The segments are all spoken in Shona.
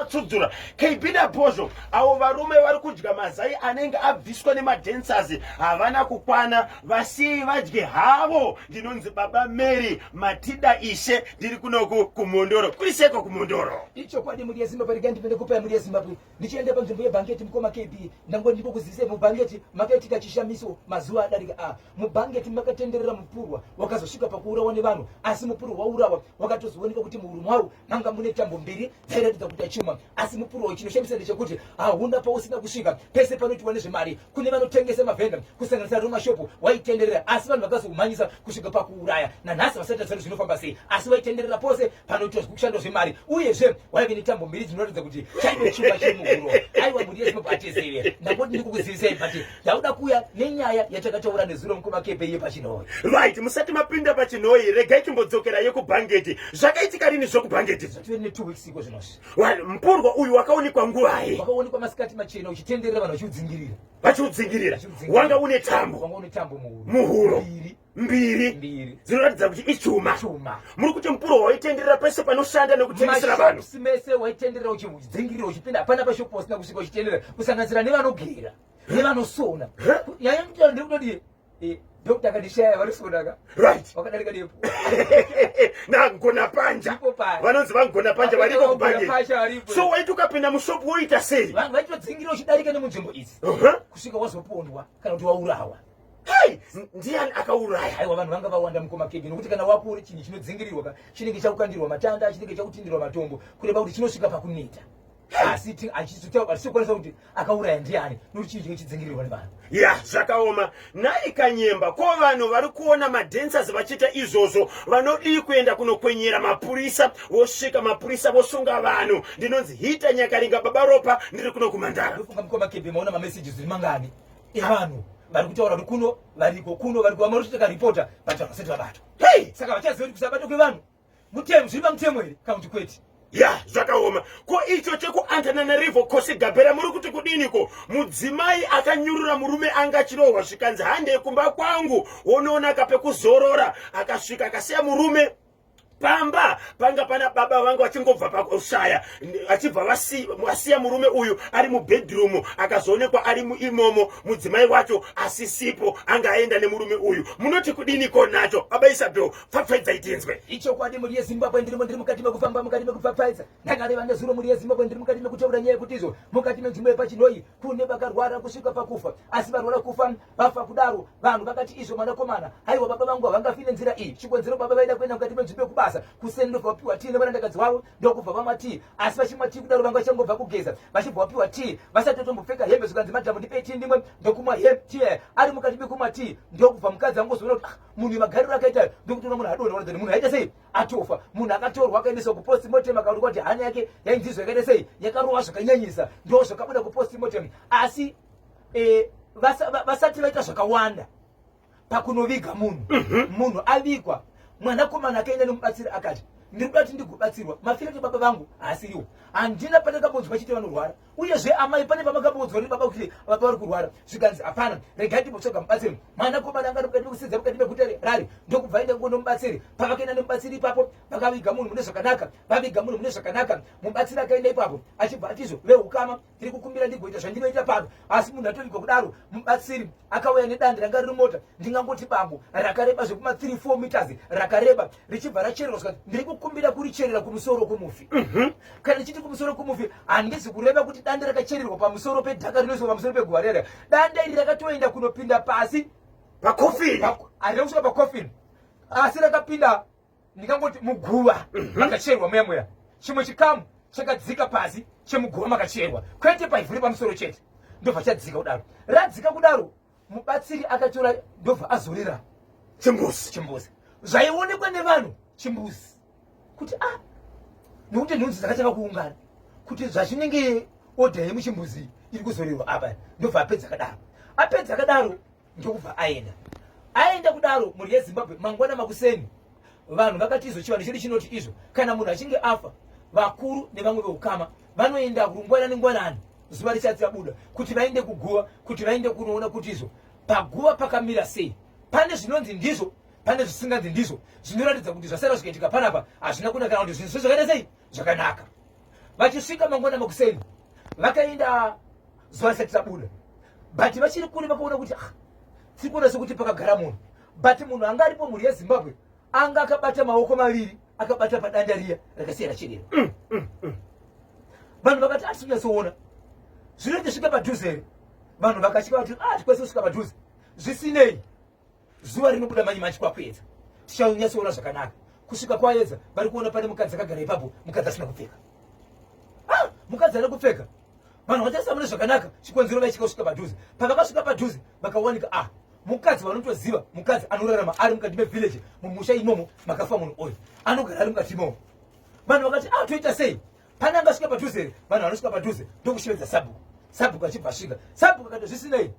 tsudzura kb nabhozho avo varume vari kudya mazai anenge abviswa nemadancers havana kukwana vasiyei vadye havo ndinonzi baba mary matida ishe ndiri kunoku kumhondoro kuri seko kumhondoro ichokwadi mhuri yezimbabwe rega ndipinde kupaya mhuri yezimbabwe ndichienda panzvimbo yebhangeti mukoma kb ndango ndiko kuzivisei mubhangeti makaitika chishamiso mazuva adarika a ah, mubhangeti makatenderera mupurwa wakazosvika pakuurawa nevanhu asi mupurwa waurawa wakatozooneka kuti muhuru mwavo manga mune tambo mbiri dzairatidza kuti achuma asi mupurowo chinoshamisa ndechekuti hauna pausina kusvika pese panoitiwa nezvemari kune vanotengesa mavhenda kusanganisa romashopu waitenderera asi vanhu vakazoumhanyisa kusvika pakuuraya nanhasi vasati zano zvinofamba sei asi waitenderera pose panoitwa zvekushandwa zvemari uyezve waive netambo mbiri dzinoratidza kuti chaive chuma chemuhuro aiwa mhuri yezimbabwe atizive ndangoti ndikukuzivisai but Tauda kuya nenyaya yatakataura nezuro mukoma kepe iye pachinhoyi. Right, musati mapinda pachinhoyi regai timbodzokera yekubhangeti. Zvakaitika rini zvokubhangeti? Zvatove ne 2 weeks iko zvinosi. Well, mpurwa uyu wakaonekwa nguvai? Wakaonekwa masikati machena uchitenderera vanhu vachiudzingirira. Vachiudzingirira. Wanga une tambo. Wanga une tambo muhuro. Muhuro. Mbiri. mbiri dzinoratidza kuti ichuma muri kuti mupuro waitenderera pese panoshanda nekutengesera vanhu mese waitenderera uchidzingirira uchipinda hapana pashopo usina kusvika uchitenderera kusanganisira nevanogera he vanosona he yaya mtana ndiri kutodii eh, Dokta akadishaya varisodaka. Right. Wakadarika depo. Na ngona panja. Vanonzi vangona panja variko kubhange. So waiti ukapinda mushopu woita sei? Vanhu vaitodzingira uchidarika nemunzvimbo idzi. Uh-huh. Kusvika wazopondwa kana kuti waurawa. Hey, ndiani akauraya? Aiwa vanhu vanga vawanda mukoma kege nokuti kana wapori chinhu chinodzingirirwa chinenge chakukandirwa matanda, chinenge chakutindirwa matombo kureva kuti chinosvika pakuneta. asi achizotauka tichikwanisa kuti akauraya ndiani nokuti chii chinge chidzingirirwa nevanhu ya zvakaoma nhai kanyemba ko vanhu vari kuona madancers vachiita izvozvo vanodii kuenda kunokwenyera mapurisa vosvika mapurisa vosunga vanhu ndinonzi hita nyakaringa baba ropa ndiri kuno kumandara ndofunga mukoma kebe maona mamessages iri mangani evanhu vari kutaura kuti kuno variko kuno variko vamwe vanotoita karipota but vanhu vasati vabatwa hei saka vachaziva kuti kusabatwa kwevanhu mutemo zviri pamutemo here kana kuti kwete ya zvakaoma ko icho chekuantananarivo kose gabhera muri kuti kudiniko mudzimai akanyurura murume anga achirohwa zvikanzi handei kumba kwangu wonoona kapekuzorora akasvika akasiya murume pamba panga pana baba vangu vachingobva pakushaya achibva vasiya murume uyu ari mubedroom akazoonekwa ari muimomo mudzimai wacho asisipo anga aenda nemurume uyu munoti kudini ko nacho baba isabel pfapfaidzai tinzwe ichokwadi mhuri yezimbabwe ndirimo ndiri mukati mekufamba mukati mekupfapfaidza ndakareva nezuro mhuri yezimbabwe ndiri mukati mekutaura nyaya yekuti izvo mukati menzvimbo yepachinoyi kune vakarwara kusvika pakufa asi varwara kufa vafa kudaro vanhu vakati izvo mwanakomana haiwa baba vangu havangafi nenzira iyi chikonzero baba vaida kuenda mukati menzvimbo yekubasa kuseni ndobva vapiwa tii nevarandakadzi wavo ndokubva vamwa tii asi vachimwa tii kudaro vanga vachangobva kugeza vachibva vapiwa tii vasatotombopfeka hembe zvikanzi madhamu ndipei tii ndimwe ndokumwa he tii ari mukati mekumwa tii ndokubva mukadzi angozoona kuti ah, munhu yemagariro akaita ayo ndokutoona munhu adona ona then munhu aita sei atofa munhu akatorwa akaendeswa kupost motem akaonekwa kuti hana yake yainzizwa yakaita sei yakarova zvakanyanyisa ndo zvakabuda kupost motem asi eh, vasati vaita zvakawanda pakunoviga munhu mhm. munhu avigwa mwanakomana akaenda nemubatsiri akati ndiri kuda kuti ndigobatsirwa mafirati baba vangu haasiriwo handina pandakambonzwa chiti vanorwara uyezve amai pane pamakamboudzwa nebaba kuti baba vari kurwara zvikanzi hapana regai ndimbotsvaga mubatsiri mwana komana anga nokudati kusidza mukati meguta rari ndokubva aenda kungo nomubatsiri pavakaenda nemubatsiri ipapo vakaviga munhu mune zvakanaka vaviga munhu mune zvakanaka mubatsiri akaenda ipapo achibva atizvo veukama tiri kukumbira ndigoita zvandinoita pano asi munhu atovigwa kudaro mubatsiri akauya nedandi ranga riri mota ndingangoti bango rakareba zvekuma 3 4 meters rakareba richibva rachererwa zvikanzi ndiri kukumbira kuricherera kumusoro kumufi mhm. kana ndichiti kumusoro kumufi handizi kureva kuti danda rakachererwa pamusoro pedhaka rinoiswa pamusoro peguva rere danda iri rakatoenda kunopinda pasi pakofini handida kusvika pakofini asi rakapinda ndingangoti muguva mhm. makachererwa muya muya chimwe chikamu chakadzika pasi chemuguva makachererwa kwete paivhuri pamusoro chete ndobva chadzika kudaro radzika kudaro mubatsiri akatora ndobva azorera chimbuzi chimbuzi zvaionekwa nevanhu chimbuzi kuti a ah, nokuti nhunzi dzakatanga kuungana kuti zvazvinenge odha yemuchimbuzi iri kuzorerwa apa ndobva apedza akadaro apedza akadaro ndokubva aenda aenda kudaro mhuri yezimbabwe mangwana makuseni Vanhu vakati izvo chivanhu chedu chinoti izvo kana munhu achinge afa vakuru nevamwe veukama vanoenda rungwana nengwanani zuva richati rabuda kuti vaende kuguva kuti vaende kunoona kuti izvo paguva pakamira sei pane zvinonzi ndizvo pane zvisinganzi ndizvo zvinoratidza kuti zvasara zvikaitika panapa hazvina kuna kana kuti zvinhu zvo zvakaita sei zvakanaka vachisvika mangwana makuseni vakaenda zuva risati rabuda but vachiri kure vakaona kuti ah, tiri kuona sekuti pakagara munhu but munhu anga aripo mhuri yezimbabwe anga akabata maoko maviri akabata padanda riya rakasiya rachedera mm, mm, mm. vanhu vakati atisi kunyatsoona zvino ndisvika padhuze here vanhu vakasvika vati ah, tikwanisa kusvika padhuze zvisinei zuva rinobuda manyi manji kwakuedza tichanyatsoona zvakanaka kusvika kwaedza vari kuona pane mukadzi akagara ipapo mukadzi asina kupfeka ah, mukadzi ana kupfeka vanhu vachasamune zvakanaka chikonzero vaichika kusvika padhuze pavakasvika padhuze vakawanika ah mukadzi vanotoziva mukadzi anorarama ari mukati mevillage mumusha imomo makafa munhu oyo anogara ari mukati imomo vanhu vakati a ah, toita sei pane angasvika padhuze here vanhu vanosvika padhuze ndokushevedza sabhuku sabhuku achibva svika sabhuku akati zvisinei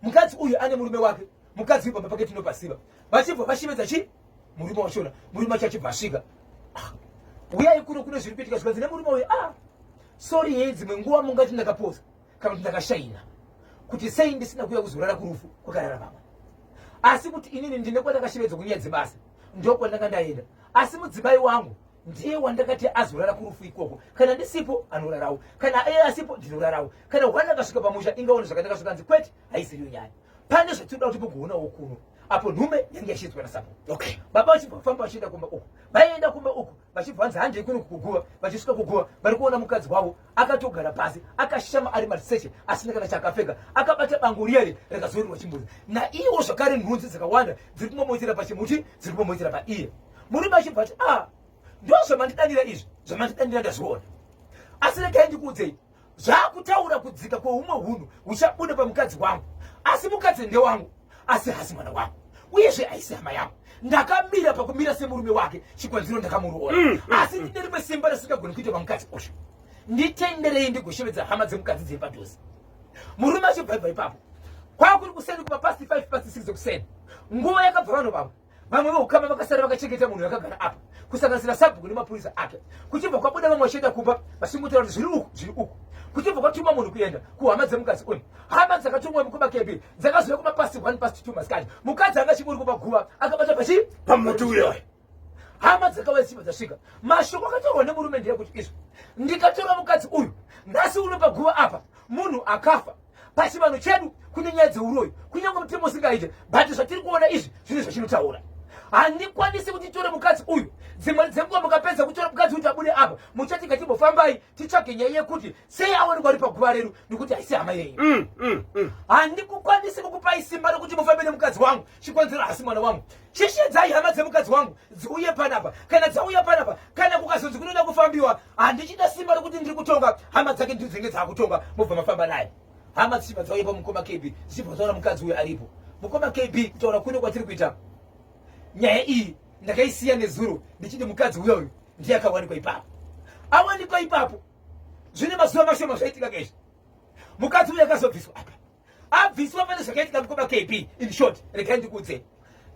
mukadzi uyu ane murume wake mukadzi uyu pamba pake tinopasiva vachibva vashevedza chi murume wachona murume wacho achibva svika ah, uyai kuno kune zviri kuitika zvikanzi nemurume uyu a ah, sori hei dzimwe nguva mungati ndakaposa kana kuti ndakashaina kuti sei ndisina kuuya kuzorara kurufu kwakarara vamwe asi kuti inini ndine kwandakashevedzwa kunyaya dzebasa ndokwandanga ndaenda asi mudzimai wangu ndiye wandakati azorara kurufu ikoko kana ndisipo anorarawo kana iye asipo ndinorarawo kana hwana akasvika pamusha ingaone zvakataka zvikanzi kwete haisiriyo nyaya pane zvatinoda kuti mugoonawo kuno apo nhume yange yashidzwa nasapo okay baba vachibva vafamba vachienda kumba uku vaienda kumba uku vachibva vanzi handei kuno kuguva vachisvika kuguva vari kuona mukadzi wavo akatogara pasi akashama ari mariseshe asina kana chaakapfeka akabata bango riya ri rakazorerwa chimbuzi naiwo zvakare nhunzi dzakawanda dziri kumamoitira pachimuti dziri kumamoitira paiye murume achibva ati a ah, ndo zvamandidanira izvi zvamandidanira ndazviona asi regai ndikuudzei Zvaakutaura kudzika kweumwe hunhu huchabuda pamukadzi wangu. Asi mukadzi ndewangu, asi hasi mwana wangu. Uyezve aisi hama yangu. Ndakamira pakumira semurume wake, chikonzero ndakamuroora. Mm, mm, asi mm. ndine rimwe simba risingagoni kuita pamukadzi osho. Nditenderei ndigoshevedza hama dzemukadzi dziri padhuze. Murume achibva ipapo. Kwakuri kuseni kuma past 5 past 6 kuseni. Nguva yakabva vanhu vavo. vamwe veukama vakasara vakachengeta munhu yakagara apa kusanganisira sabhuku nemapurisa ake kuchibva kwabuda vamwe vachienda kumba vachingotaura kuti zviri uku zviri uku kuchibva kwatuma munhu kuenda kuhama dzemukadzi uyu hama dzakatumwa mukuba kepi dzakaziva kuma past one past two masikati mukadzi anga chiburi kumaguva akabata pachi pamuti uyoyo hama dzakauya simba dzasvika mashoko akatorwa nemurume ndeyekuti izvo ndikatora mukadzi uyu nhasi uno paguva apa munhu akafa pachivano chedu kune nyaya dzeuroyi kunyange mutemo usingaite but zvatiri kuona izvi zvine zvachinotaura handikwanisi kuti tore mukadzi uyu dzimwe dzenguva mukapedza kutora mukadzi kuti abude apa muchati ngatimbofambai titsvage nyaya yekuti sei awanikwa ari paguva redu nekuti haisi hama yenyu mm, mm, mm. handikukwanisi kukupai simba rekuti mufambe nemukadzi wangu chikonzero hasi mwana wangu chishedzai hama dzemukadzi wangu dziuye panapa kana dzauya panapa kana kukazonzi kunoda kufambiwa handichida simba rokuti ndiri kutonga hama dzake ndidzo dzenge dzaakutonga mobva mafamba naye hama dzichibva dzauya pamukoma kb dzichibva dzaona mukadzi uyo aripo mukoma kb kutaura kuno kwatiri kuita nyaya iyi ndakaisiya nezuro ndichiti mukadzi uyo uyu ndiye akawanikwa ipapo awanikwa ipapo zvine mazuva mashoma zvaitika kaizvi mukadzi uyo akazobviswa apa abviswa pane zvakaitika mukoma kp in short regai ndikudze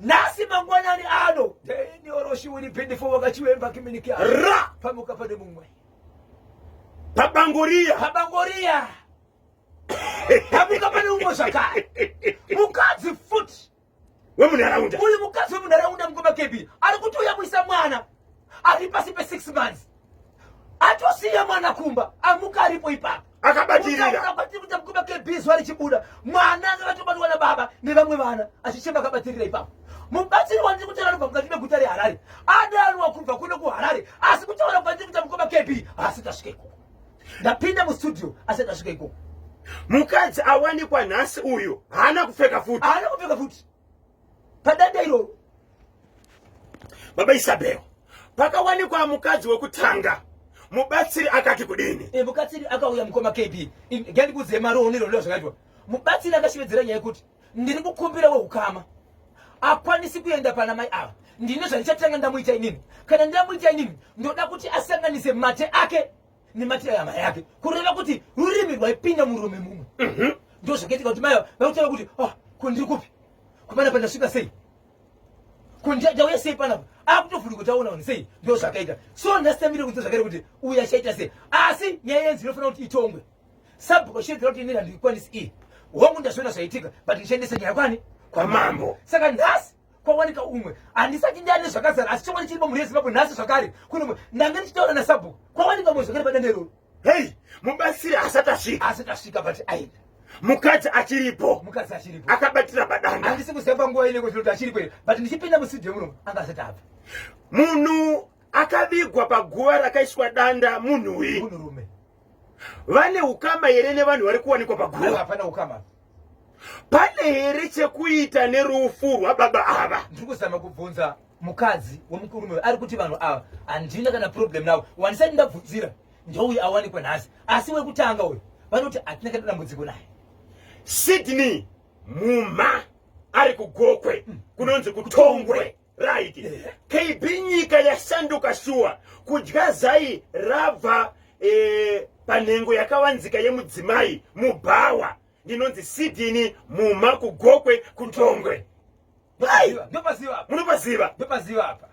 nhasi mangwanani ano denioroshi wiri bindifo wakachiwemba kiminiki ra pamuka pane mumwe pabangoriya pabangoriya pamuka pane mumwe zvakare mukadzi futi wemunharaunda uyu mukadzi wemunharaunda mukoma kebi ari kutouya kuisa mwana ari pasi pesix months atosiya mwana kumba amuka aripo ipapo akabatirirakuita mukoma kebi zuva richibuda mwana anga vatobatwa na baba nevamwe vana achichema akabatirira ipapo mubatsiri wandiri kutaura anobva mukati meguta reharare adanwa kubva kuno kuharare asi kutaura kwandiri kuita mukoma kebi haasi tasvika ikoko ndapinda mustudio asati asvika ikoko mukadzi awanikwa nhasi uyu haana kupfeka futi haana kupfeka futi padanda iroro baba isabel pakawanikwa mukadzi wekutanga mubatsiri akati kudini e, mubatsiri akauya mukoma kb ngandikudzei maroonero leo zvakaitwa mubatsiri akashevedzera nyaya yekuti ndiri kukumbira weukama akwanisi kuenda pana mai ava ndine zvandichatanga ndamuita inini kana ndamuita inini ndoda kuti asanganise mate ake nematirai amai yake kureva kuti rurimi rwaipinda murume mumwe mhm. ndo zvakaitika kuti mai vakutaura kuti oh, ko ndiri kupi kupana pandasvika sei ko ndauya sei panapa akutovhuri kuti aona vanhu sei ndo zvakaita so ndasitamire kunze zvakaita kuti uyu achaita sei asi nyaya yenzi inofanira kuti itongwe sabhuko shedzera kuti inini handikwanisi iyi hongu ndazviona zvaitika but ndichandisa nyaya kwani kwamambo saka nhasi kwawanika umwe handisati ndane zvakazara asi chokwadi chiri pamhuri yezimbabwe nhasi zvakare kunomwe ndange ndichitaura nasabhuku kwawanika umwe zvakare padande iroro hei mubatsiri asati asvika asati asvika but aenda mukadzi achiripo mukadzi achiripo akabatira padanda handisi kuziva panguva ineko zvinoti achiripo here but ndichipinda musidhi yemuromo anga asati abva munhu akavigwa paguva rakaiswa danda munhuwi munhurume vane ukama here nevanhu vari kuwanikwa paguva hapana ukama pane here chekuita nerufu rwababa ava ndiri kuzama kubvunza mukadzi wemukurume ari kuti vanhu ava handina kana problem navo wanisati ndabvunzira ndouyu awanikwa nhasi asi wekutanga uyu vanoti hatina kana dambudziko naye sydney mumha ari kugokwe hmm. kunonzi kutongwe right kb nyika yasanduka shuwa kudya zai rabva eh, panhengo yakawanzika yemudzimai mubhawa ndinonzi sidini muma kugokwe kutongwe munopaziva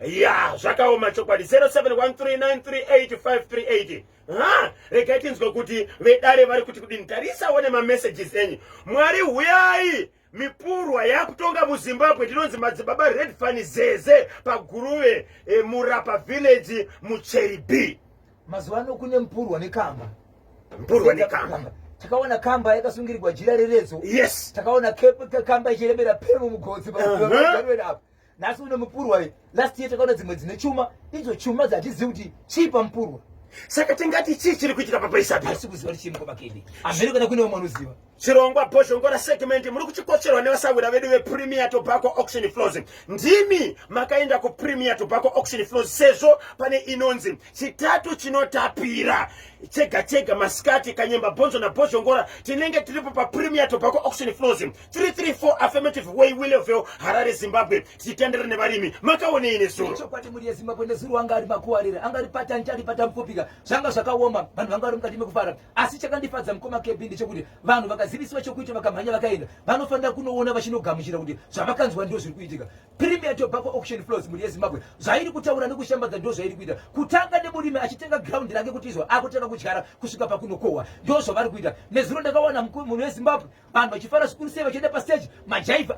ya zvakaoma chokwadi 0713938538 ha regai tinzwe kuti vedare vari kuti kudini tarisawo nemamessages enyu mwari huyai mipurwa yakutonga muzimbabwe tinonzi madzibaba red fani zeze paguruve e, murapa village mucheri b mazuva ano kune mupurwa nekamba mupurwa nekamba takaona kamba yakasungirirwa jira reredzo yes takaona kamba ichiremera pemu mugodzi uh -huh. nhasi une mupurwa ye last year takaona dzimwe dzine chuma idzo chuma dzatizivi kuti chii pamupurwa saka tingati chii chiri kuitika papaisati asi kuziva kuti chii mukoma kedi amhiri kana kune vamwe anoziva chirongwa bhozhongora segment muri kuchikocherwa nevasahwira vedu vepremier tobacco auction flows ndimi makaenda kupremier tobacco auction flows sezvo pane inonzi chitatu chinotapira chega chega masikati kanyemba bhonzo nabhozhongora tinenge tiripo papremier tobacco auction flows 334 affirmative way willeville harare zimbabwe tichitendera nevarimi makaonei nezurochokwadi mhuri yezimbabwe nezuro anga ari makuwarira anga ari patani chari patamupopika zvanga zvakaoma vanhu vanga vari mukati mekufara asi chakandifadza mukoma kebi ndechekuti vanhu vakazivisiwa chokuita vakamhanya vakaenda vanofanira kunoona vachinogamuchira kuti zvavakanzwa ndo zviri kuitika Premier Tobacco Auction Floors mhuri yeZimbabwe zvairi kutaura nekushambadza ndo zvairi kuita kutanga nemurimi achitenga ground rake kuti izvo akutanga kudyara kusvika pakunokohwa ndo zvavari kuita nezuro ndakawana munhu weZimbabwe vanhu vachifara zvikuru sei vachienda pastage majaivha